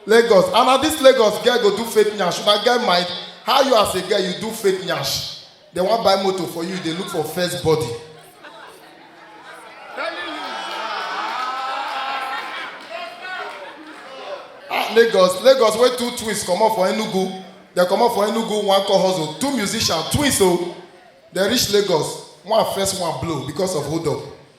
Lagos and na this Lagos girl go do fake nyash una get mind how you as a girl you do fake nyash they wan buy motor for you you dey look for first body ah Lagos Lagos wey two twins comot for Enugu dem comot for Enugu one call hustle two musicians twins o dem reach Lagos one first one blow because of hold up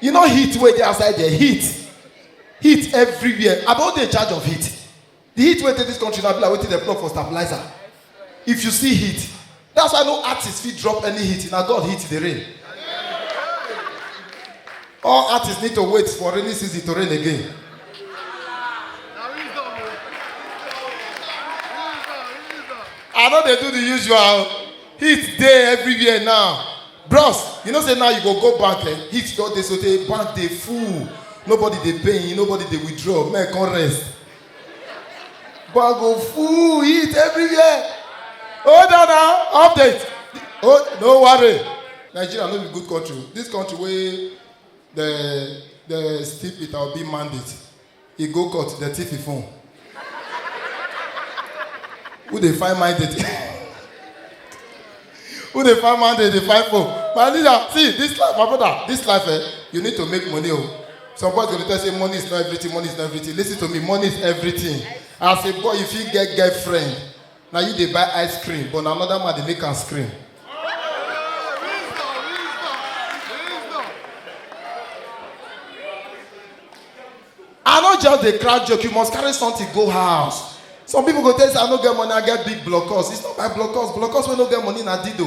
you know heat wey dey outside there heat heat everywhere i don dey in charge of heat the heat wey dey this country na be like wetin dem plug for stabilizer if you see heat that's why no artist fit drop any heat na god heat dey rain all artists need to wait for rainy season to rain again i no dey do the usual heat dey everywhere now bros you know say now you go go bank eh heat don dey sotey bank dey full nobody dey pay nobody dey withdraw men come rest bank go full heat everywhere hold on now update oh no worry nigeria no be good country this country wey the the steal peter obi mandate He go court, dem thief him phone. Who dey find my date? Who dey find my date? Dey find phone. My leader, see this life, my brother, this life, eh, you need to make money. Oh. Some boys go dey tell you, say money is not everything, money is not everything. Listen to me, money is everything. As a boy, you fit get girlfriend. Na you dey buy ice cream but na another man dey make am scream. I no just dey crack joke, you must carry something go house. Some people go tell you say I no get money, I get big blockers. It's not by blockers, blockers wey no get money na dido.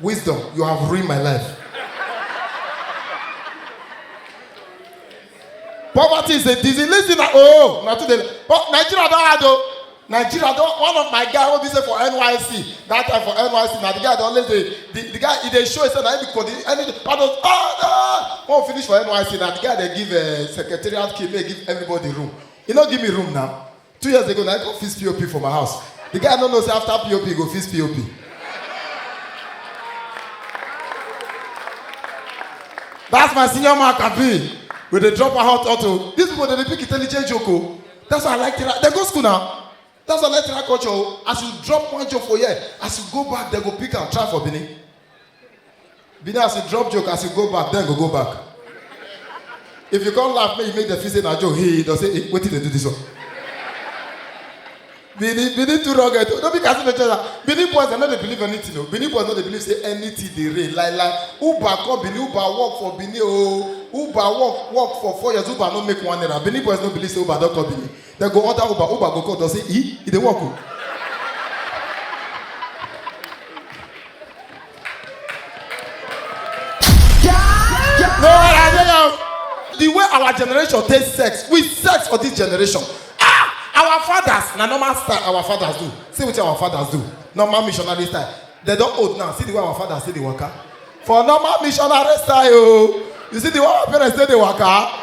Wisdom, you have ruined my life. Poverty is a disease. Listen, na- oh, na today. But Nigeria don hard o. Nigeria don one of my guy wey be say for NYSC that time for NYSC na the guy dey always dey the, the guy e dey show himself na him be coordinator anything all those ah ah when we finish for NYSC na the guy dey give uh, secretariat key make he give everybody room he no give me room now two years ago na i come fix pop for my house the guy no know say after pop he go fix pop that's my senior man kabi we dey drop our hot auto these people dey dey pick intelligent joke o that's why i like tera dem go school na that's why i like tera culture o as you drop one joke for here as you go back dem go pick am try for benin be there as you drop joke as you go back then go go back if you come laugh make you make dem feel say na joke hey don say hey wetin dey do this one benin benin too rugged o no be kasi dey tell am benin boys dem no dey believe anything o benin boys no dey believe say anything dey rain like like uber come benin uber work for benin o uber work work for four years uber no make one naira benin boys no believe say uber don come benin Dem go order Uber, Uber go call, dem say, e, e dey work o. No, I dey now. The way our generation take sex, we sex for this generation. Ah, our fathers na normal style our fathers do. See wetin our fathers do. Normal missionary style. They don old now. See the way our fathers take dey waka. For normal missionary style o. You see the way our parents take dey waka.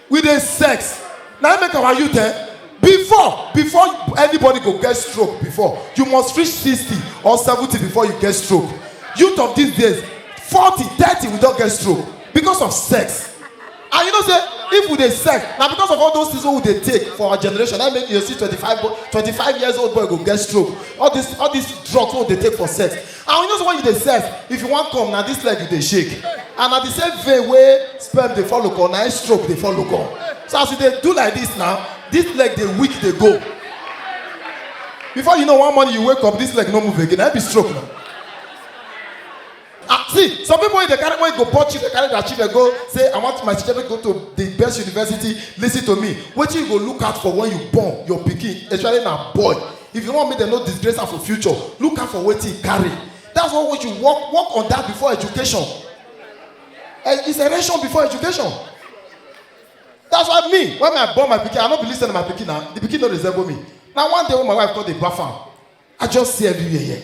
we dey sex na im make our youth eh before before anybody go get stroke before you must reach sixty or seventy before you get stroke youth of these days forty thirty we don get stroke because of sex and you know say if we dey sex na because of all those things wey we dey take for our generation na im make you dey see twenty-five boy twenty-five years old boy go get stroke all this all this drugs wey we dey take for sex and you know say when you dey sef if you wan come na this leg you dey shake and na the same vein wey sperm dey follow come na im stroke dey follow come so as you dey do like this now this leg dey weak dey go before you know one morning you wake up this leg no move again na im be stroke na ah see some people wey dey carry wey go born children carry their children go say i want my children to go to the best university lis ten to me wetin you go look out for when you born your pikin especially na boy If you want make dem no disgrace am for future, look out for wetin e carry. That's why when you work work on that before education. Eh, It's erection before education. That's why me when I born my pikin, I no be lis ten to my pikin na. The pikin no resemble me. Na one day when my wife come dey baff am, I just see everywhere here.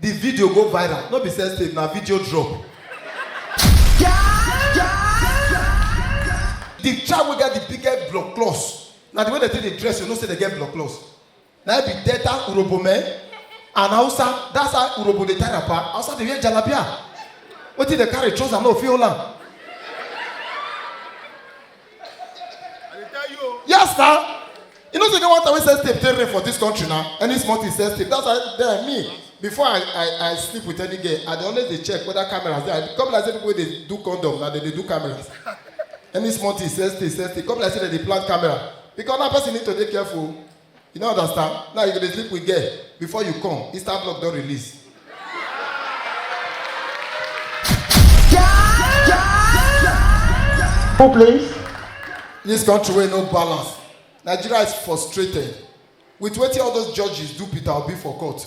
The video go viral, no be sex tape, na video drop. The child wey get the biggest blood clots, na the way they take dey dress, you know say they get blood clots. Na it be Delta Urobo men and Hausa, that's how Urobo dey tie wrapper, Hausa dey wear jalabia. Wetin dey carry trouser no fit hold am. Yes, now. You know, so get one time we sell tape, take rain for this country now. Any small thing sell tape. That's why then me, before I, I, I sleep with any girl, I dey always dey check whether cameras dey. I come like say people wey dey do condom na dem dey do cameras. Any small thing sell tape, sell tape. Come like say dem dey plant camera. Because now person need to dey careful. You no understand? Now you go dey sleep with girl before you come, Insta block don release. Who please? This country wey no balance. Nigeria is frustrated with wetin all those judges do Peter Obi for court.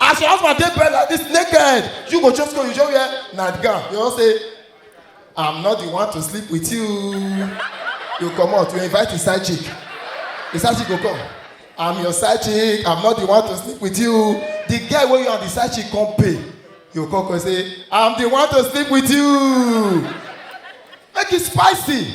as your husband dey bed like this naked you go just go you just wear nightgown you wan say i'm not the one to sleep with you you comot you invite the side chick the side chick go come i'm your side chick i'm not the one to sleep with you the guy wey you and the side chick come pay you come come say i'm the one to sleep with you make e spicy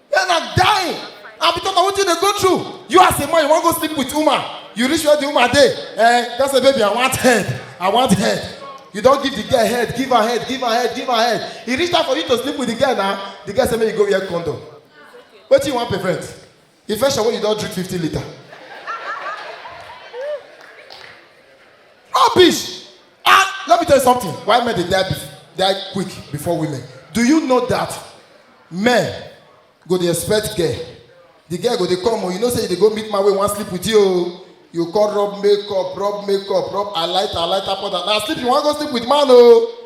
Men are dying. And because of what you dey go through, you as a man, you wan go sleep with woman. You reach where the woman dey. Eh, that's a baby, I want head. I want head. You don give the girl head, give her head, give her head, give her head. E reach time for you to sleep with the girl now. The girl say make you go wear condom. Wetin you wan prevent? Infection wey you don drink fifty litre. Rubbish! Ah, let me tell you something. Why men they die, die quick before women? Do you know that men go the expect girl? The girl go they come, oh, you know say they go meet my way, one sleep with you. Oh. You call rub makeup, rub makeup, rub I light, I light up on that. Now sleep, you want to go sleep with man, oh.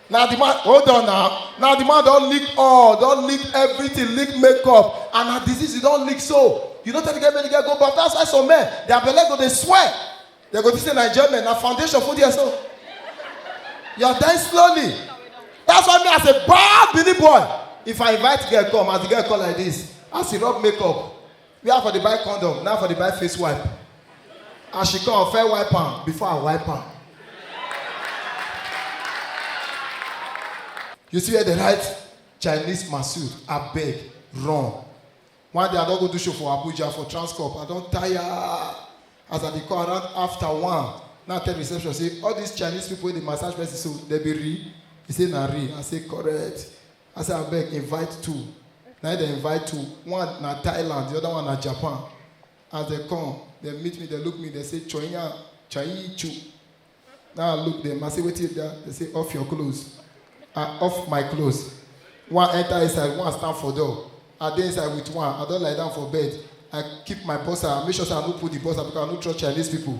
na the man hold on now na the man don lick all don lick everything lick makeup and na disease you don lick so you no tell the girl make the girl go baff that's why some men their belle go dey swell they go think say na enjoyment na foundation full there so you are dying slowly that's why me as a bad bini boy if i invite girl come as the girl come like this as he rub makeup where i for dey buy condom na i for dey buy face wipe as she come fair wipe am before i wipe am you see where they write chinese masood abeg run one day i don go do show for abuja for transcorp i don tire as i dey come around after one now tell reception say all these chinese people wey dey massage person so dem be real he say na real i say correct I say abeg invite two. Na im dem invite two. One na Thailand, the other one na Japan. As dem come, dem meet me, dem look me, dem say Chonya Chayi Chu. Now I look them, I say wetin be that? They say off your clothes. I off my clothes. One enter inside, one stand for door. I dey inside with one, I don lie down for bed. I keep my boxer, I make sure say I no pull the boxer because I no trust Chinese people.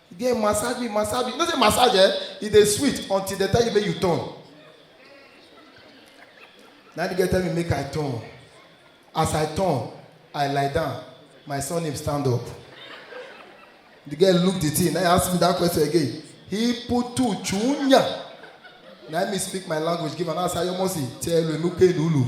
E dey massage me, massage me. You know say massage eh, e dey sweet until dem tell you make you turn. Na the girl tell me make I turn. As I turn, I lie down. My surname stand up. The girl look the thing, now ask me that question again. He put two chunya. Now me speak my language, give her now say yomosi, tell you, look, look.